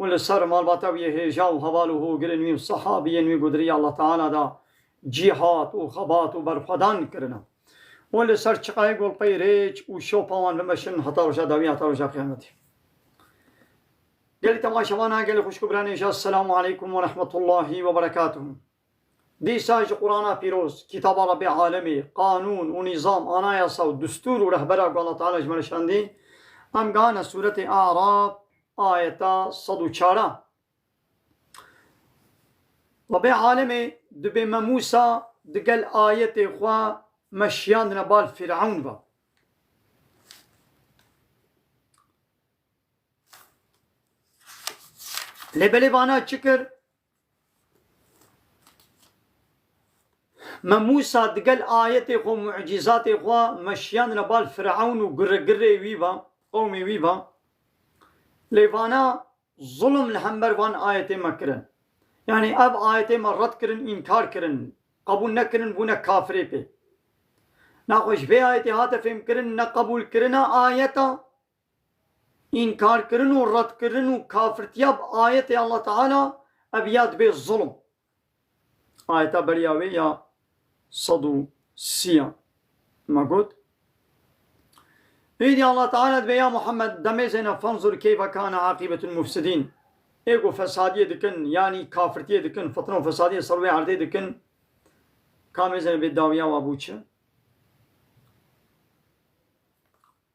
û li ser malbata wî yê hêja û heval û hogirên wî û sehabiyên wî gudirîya Allah Teala da cîhat û xebat û berxwedan kirina. Û li ser çiqayê golpeyê rêç û şopa wan bimeşin heta roja dawî heta roja qiyametê. Gelê temaşevan a, gelê xwişk û biranê ji, Esselamu Aleykum Werehmetullahî Weberekatuhu. Dîsa jî Qurana Pîroz, Kitaba Rebbê Alemê, Qanûn û Nîzam, Anayasa û Distûr û Rehbera ku Allah Teala ji me re şandî, em gehane Sûretê A'raf ayeta sed û çar a. Rebbê Alemê dibê me Mûsa di gel ayetê xwe me şiyandine bal Fîrewn ve. Lê belê vana çi kir? Me Mûsa digel ayetê xwe û mucîzatê xwe me şiyandine bal Firewn û guregirê wî ve, qewmê wî ve. Lê vana zulm li hember van ayetê me kirin. Yanî ev ayetê me red kirin, înkar kirin, qebûl nekirin, bûne kafirê pê. Naxwe ji vê ayetê hate fêmkirin neqebûlkirina ayeta, Înkarkirin û redkirin û kafirtiya bi ayetê Allah Teala ev ya dibê zulm. Ayeta beriya wê ya sed û sî ya me got, Êdî Allah Teala dibe ya Muhammed demê zêne fenzur keyfe kâne aqîbetul mufsidîn ê ku fesadiyê dikin yanî kafirtiyê dikin fitne û fesadiyê ser wê erdê dikin kamê zêne bê dawiya wan bû çi.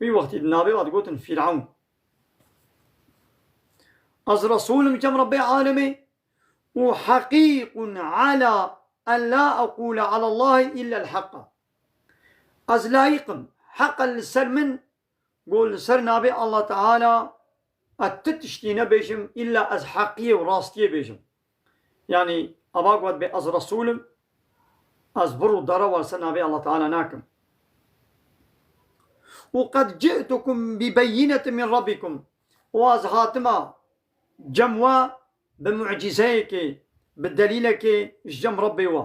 Wî wextî di navê wa digotin Fîrewn. Ez Resul im cem Rebbê Alemê û heqîqun ala en la eqûle alallahî îllel heqa. Ez layîq im, heq e li ser min ku li ser navê Allah Teala ez ti tiştî nebêjim îlla ez heqiyê û rastiyê bêjim. Yanî ava gotibê ez Resûl im, ez vir û dara war ser navê Allah Teala nakim. Û qed cî'tukum bi beyînetin min Rabbikum û ez hatima cem we bi mu'cîzeyekê, bi delîlekê ji cem Rabbê we.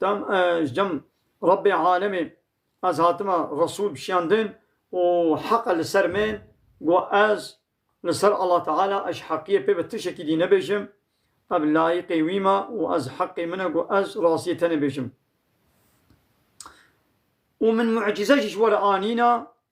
Tam ji cem Rabbê alemê ez hatime Resûl bi şiyan din û heqe li ser min ku ez li ser Allah Teala ez ji heqiyê pê bi tişekî dî nebêjim, ev layiqê wî me û ez heqê min e ku ez rastiyê tenê bêjim. Û min mu'cîze jî ji we re anîne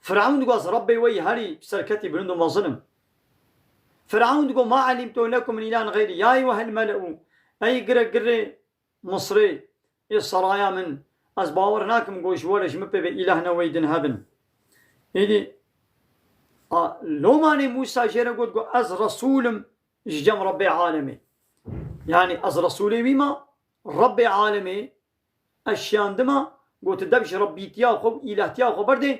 Fir'ewn dixwaz Rebbê wê yî herî serketî bilind û mezin in. Fir'ewn digot, Ma elimtu lekum min îlahin xeyrî, ya eyyuhel mele'u, ey girek girê Misrê, ê seraya min, ez bawer nakim ku ji we re ji min pê ve îlah ne wey din hebin. Êdî a lomanê Mûsa jê re got ku ez Resûl im ji cem Rebbê alemê. Yanî ez Resûlê wî me, Rebbê alemê Ez şiyandima ku tu dev ji Rebbîtiya xwe û îlahtiya xwe berdê,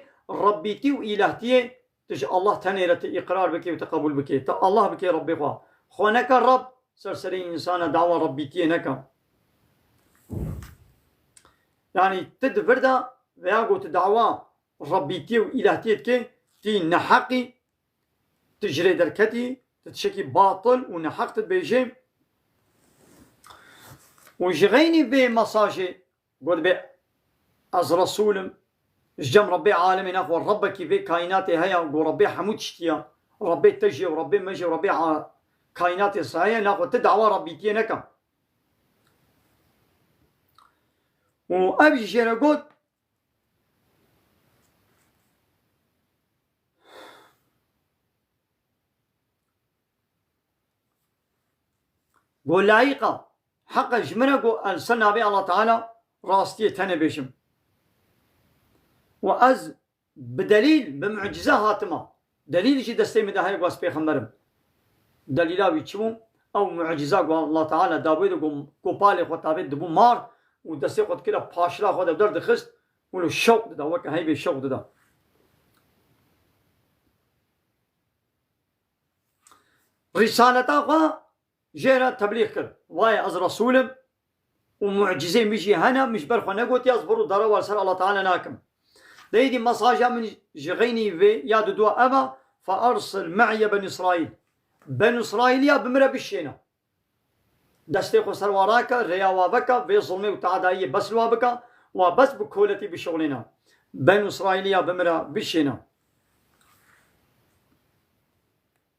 Rebbîtî û îlahtiyê tu ji Allah tenê re tu îqrar bikê û tu qebûl bikê. Tu Allah bikê Rebbê xwe. Xwe neke Rebb, ser serê însana dawa Rebbîtiyê neke. Yanî tu di vir de veya ku tu dawa Rebbîtiyê û îlahtiyê dikê, tu yî neheq î, Tu ji rê derketî, tu tişekî batil û neheq dibêjî û ji xeynî vê mesajê gotibê Ez Resûl im, ji cem Rebbê alemên e xwe Rebbekî vê kaînatê heye û Rebbê hemû tiştî ye, Rebbê te jî ye û Rebbê me jî ye û Rebbê kaînatê saye ye, naxwe tu dawa Rebbîtiyê neke. Û ev jî jê re got. Go layiqa heqa ji min e go ez li ser navê Allah Teala rastiyê tenê bêjim. Û ez bi delîl, bi mucîze hatime. Delîl jî destê min de heye ku ez pêxember im. Delîla wî çi bû? Ew mucîza ku Allah Teala dabûyê de ku kopalê xwe tavê dibû mar û destê xwe dikira paşila xwe de derdixist û li şewq dida, weke heybê şewq dida. Rîsaleta xwe Jê re teblîg kir. Vaye ez Resûl im û mucîzeyên min jî hene, min ji ber xwe negotiye ez vir û dara we li ser Allah Teala nakim. Dê êdî mesaja min ji xeynî vê ya didwa ev e, Fe ersil me'ye benî Îsraîl, Benû Îsraîlîya bi min re bişêne. Destê xwe ser wan rake, rêya wan veke, vê zilmê û te'edayiyê bes li wan bike, wan bes bi koletî bişuxulîne. Benû Îsraîlîya bi min re bişêne.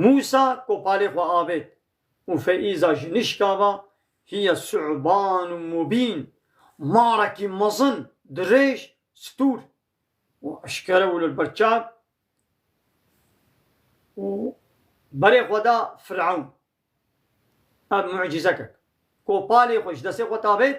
Mûsa kopalê xwe avêt û Feyîza ji nişka ve hiye suban û mûbîn, marekî mezin, dirêj, stûr û eşkere û li ber çav û berê xwe da Firewn. Ev mucîzek e. Kopalê xwe ji destê xwe tavêt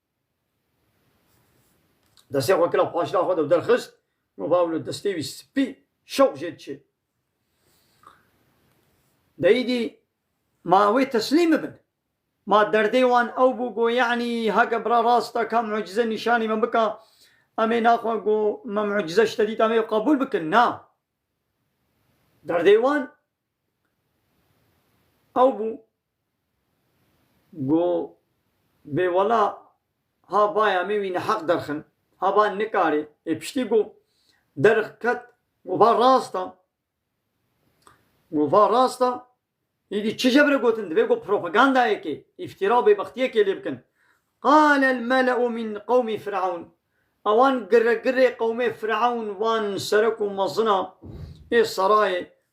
Destê xwe kira paşla xwe de û derxist, no bawlo destê wî spî şewq jê diçê. Deyîdî ma wê teslîm bibin. Ma derdê wan ew bû go yanî heke bira rast e ka mucîze nîşanî me bika, em ê naxwe go me mucîze ji te dît em ê qebûl bikin. Na. Derdê wan ew bû. Go bê wela ha vaya mê wî neheq derxin, ha va nikarê, ê piştî go derx ket go va rast a. Go va rast a, îdî çi jebire gotin divê go propagandayekê, îftîra û bêbextiyekê lê bikin. Qal el mele'u min qewmî Firaun, ewan giregirê qewmê Firaun van serok û mezina ê serayê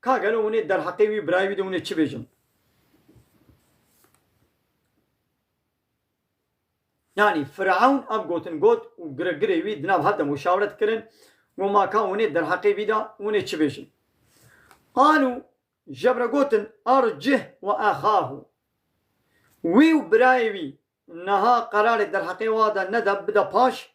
Ka gelo hûn ê derheqê wî birayê wî de hûn ê çi bêjin? Yanî Firewn ev gotin got û girgirê wî di nav hev de muşawret kirin û ma ka hûn ê derheqê wî de hûn ê çi bêjin? Qalû jevre gotin ercih wa exahu. Wî û birayê wî niha qerarê derheqê wa de nede bide paş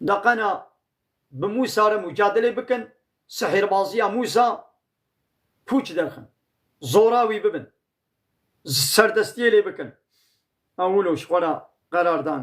Neqena bi Mûsa re mucadelê bikin, sihêrbaziya Mûsa pûç derxin, zora wî bibin, serdestiyê lê bikin. Ew wilo ji xwe re qerar dan.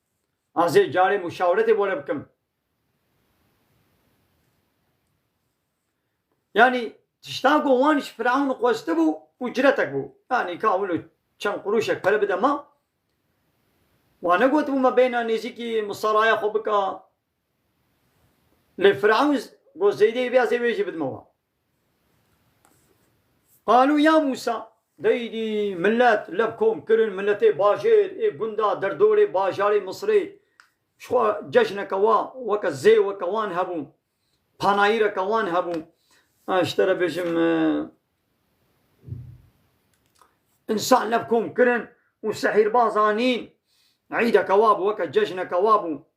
Ez ê carê muşawiretê bore bikim. Yanî tişta ku wan ji Firewn xwestibû û ciretek bû. Yanî ka wilo çend qurûşek pere bide me. Wan negotibû me bêhna nêzîkî misaraya xwe bika. Lê Firewn got Zeydê bê ez ê wê jî bidime wan. Qalu ya Musa, deydî milet lev kom kirin, miletê bajêr ê gunda derdorê bajarê Misirê ji xwe cejneke wa weke zê weke wan hebû, panayîreke wan hebû, ji te re bêjim însan lev kom kirin û sehîrbaz anîn, îdeke wa bû, weke cejneke wa bû.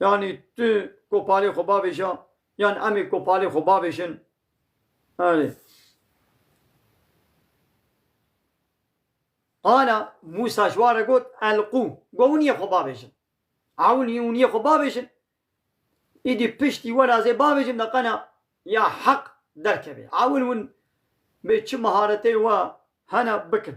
Yani tu kopalê xwe bavêja yan em ê kopalê xwe bavêjin. Erê. Qala Musa ji wan re got elqû got hûn yê xwe bavêjin. Ewnî hûn yê xwe bavêjin. Îdî piştî were ez ê bavêjim de qena ya heq derkevê. Ewn hûn bê çi mihareteyê we hene bikin.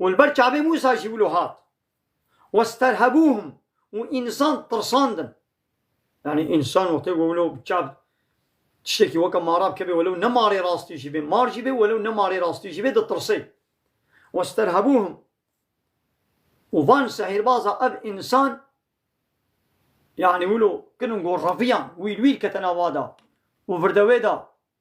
Û li ber çavê Mûsa jî wilo hat. Westerhebûhum û însan tirsandin. Yanî însan wextê ku wilo bi çav tiştekî weke mara bikeve welew ne marê rastî jî bê, mar jî bê welew ne marê rastî jî bê ditirsê. Westerhebûhum û van sehîrbaza ev însan yanî wilo kin û gorreviyan wîl wîl kete nava da û virde wê da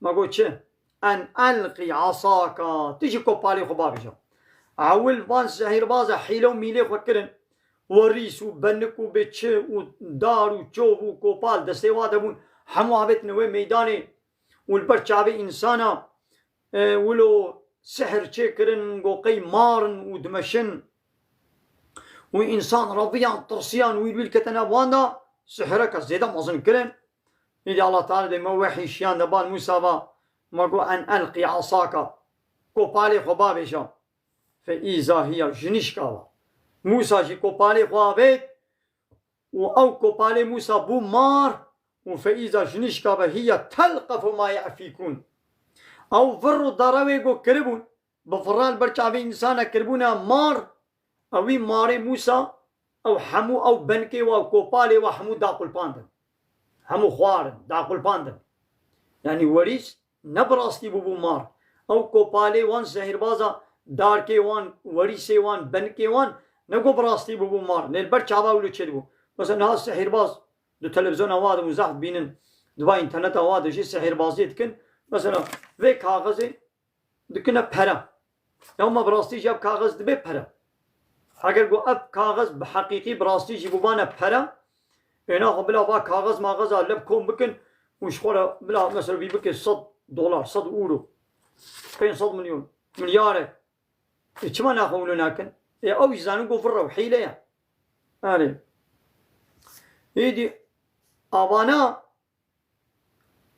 Ma got çi? En elqî asaka, tu jî kopalê xwe bavêje. Ewil van zehîrbaz e hîle û mîlê xwe kirin. Werîs û benik û bê çi û dar û çov û kopal destê wa de bûn, hemû avêtine wê meydanê û li ber çavê însan a. Wilo sihir çê kirin got qey marin û dimeşin û însan reviyan, tirsiyan, wîl wîl kete nav wan de, sihireke zêde mezin kirin. Îdî Allah Teala dê ma wehyî şiyan de bal Mûsa va, Ma got en elqî asaka, kopalê xwe bavêja. Fe îza hiya jinişka va. Mûsa jî kopalê xwe avêt û ew kopalê Mûsa bû mar û fe îza jinişka ve hiya telqefu ma ye'fîkûn. Ew vir û darewê ku kiribûn Bi fira li ber çavê însanek kiribûne mar û wî marê Mûsa û hemû ew benkê we û kopalê we hemû daqulpandin. Hemû xwarin, daqulpandin. Yanî werîs ne bi rastî bûbû mar. Ew kopalê wan zehîrbaz a, darkê wan, werîsê wan, benkê wan ne ku bi rastî bûbû mar. Lê li ber çava wilo çêdibû. Wisa niha zehîrbaz di televîzyona we de û zehf dibînin di va înterneta we de jî zehîrbaziyê dikin. Mesela vê kaxizê Dikine pere. Ew ma bi rastî jî ev kaxiz dibe pere. Eger ku ev kaxiz bi heqîqî bi rastî jî bûbane pere, êna xwe bila va kaxiz maxiz a leb kom bikin û ji xwe re bila mesela vî bike sed dolar, sed ûro, pênc sed milyon, milyarek. Ê çima ne xwe wilo nakin? Ê ew jî zanin ku vir e û hîle ye. Erê. Êdî avana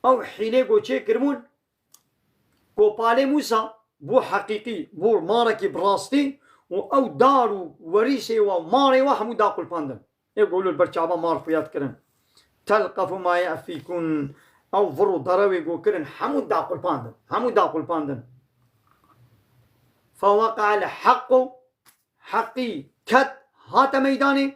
Ew hîlê ku çêkiribûn ku Palê Mûsa bû heqîqî, bû marekî bi rastî û ew dar û werîsê we û marê we hemû daqulpandin. Ê ku li ber çavan mar xwe ya dikirin. Telqefû ma ye'fîkûn Ew vir û derewê ku kirin hemû daqulpandin, hemû daqulpandin. Feweqe'el heqqû Heqî ket, hate meydanê.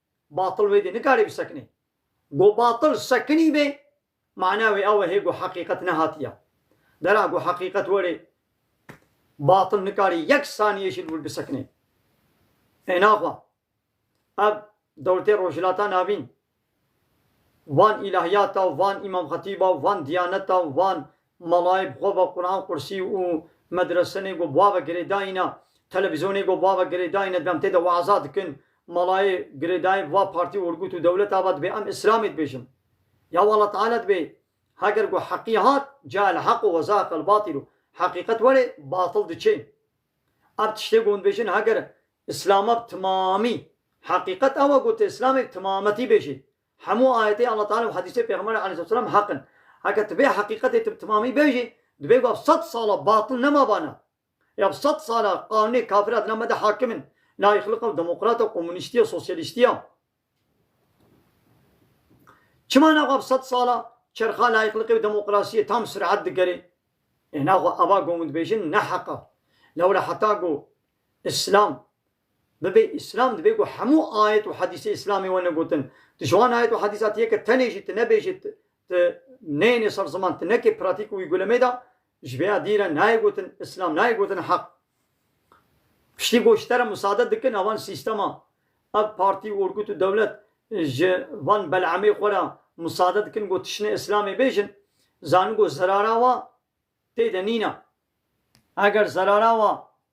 Batil wê dê nikarê bisekinê. Go batil sekinî bê, mana wê ew e hê go heqîqet nehatiya dera. Go heqîqet werê, batil nikarê yek saniyê jî li wir bisekinê. Ê naxwa, ev dewletê Rojhilata Navîn, van îlahiyata û van Îmam Xetîba û van Diyaneta û van Malayê bi xwe ve Quran Qursî û medresenê ku ba ve girêdayîne, televîzyonê ku ba ve girêdayîne demtê de weaza dikin. Malayê girêdayê bi va partî û urgut û dewleta ve dibê em îslamê dibêjin. Ya walla teala dibê heger ku heqî hat cael hequ ve zahaqel batilu, heqîqet werê batil diçê. Ev tiştê ku hûn dibêjin heger îslama bi timamî, heqîqet ew e ku tu îslamê bi timametî bêjî, Hemû ayetê Allah Teala û hedîsê Pêxemberê Aleyhisselam heq in. Heke tu vê heqîqetê tu bi timamî bêjî, dibê ku ev sed sala batil nema bana. Ê ev sed sal e qanûnê kafir a di nav me de hakim in, laîxlika û demokrata û komunîstî ya sosyalîstî ya. Çima na xwe ev sed sal a çerxa laîxlikê û demokrasiyê tam suret digerê? Ê na xwe eva gomûdbêjin ne heq a. Lewre heta ku îslam Bibe Îslam divê ku hemû ayet û hedîsê Îslamê wene gotin. Tu ji wan ayet û hedîsa tiyê ke tenê jî tu nebêjî tu tu neyênê ser ziman, tu nekê pratîk û wî gulemê da, ji vê ya dî re nayê gotin Îslam, nayê gotin heq. Piştî ku ji te re musade dikin a van sîstema, ev partî û orgut û dewlet ji van bel'emê xwe re musade dikin ku tişine Îslamê bêjin, zanin ku zerara wa tê de nîne. Eger zerara wa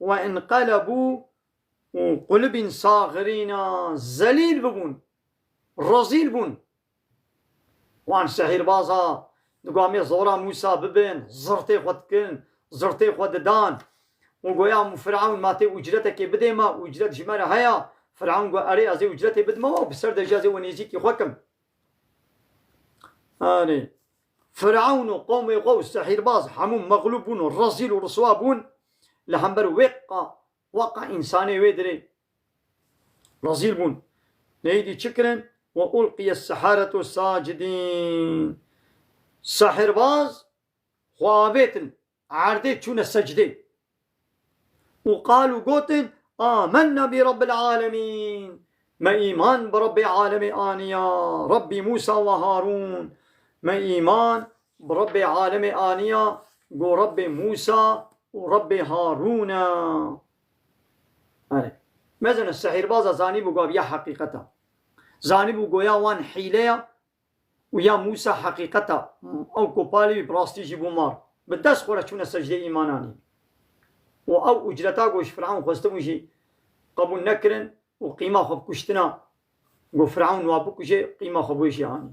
Ve înqelebû û qulibîn saxirîna zelîl bibûn, rezîl bûn. Wan şehîrbaza di gamê zora Mûsa bibin, zirtê xwe dikin, zirtê xwe didan û goya Firewn ma tê ucretekê bidê me, ucret ji me re heye, Firewn got, erê ez ê ucretê bidim û bi ser de jî ez ê we nêzîkî xwe kim. Erê, Firewn û qomê xwe û sihîrbaz hemû mexlûb bûn û rezîl û riswa bûn li hember wê ka wa ka însanê wê dirê rezîl bûn. Lê êdî çi kirin? Wa ulqiye seharetu sacidîn. Sihîrbaz xwe avêtin Erdê çûne secdê û qal û gotin, Âmennâ bi Rabbil âlemîn, Me îman bi Rabbê Alemê aniya, Rabbî Mûsa wa Harûn, Me îman bi Rabbê Alemê aniya ku Rabbê Mûsa û Rabbê Harûn e. Erê, mezin e sihîrbaza zanîbû ku ev ya heqîqet e. Zanîbû goya wan hîle ye Û ya Mûsa heqîqeta, ew kopalê wî bi rastî jî bû mar, bi dest xwe re çûne secdeyê îmananê. Û ew ûcreta ku ji Firewn xwestibûn jî qebûl nekirin û qîma xwe bi kuştina ku Firewn wan bikuje qîma xwe bi wê jî anî.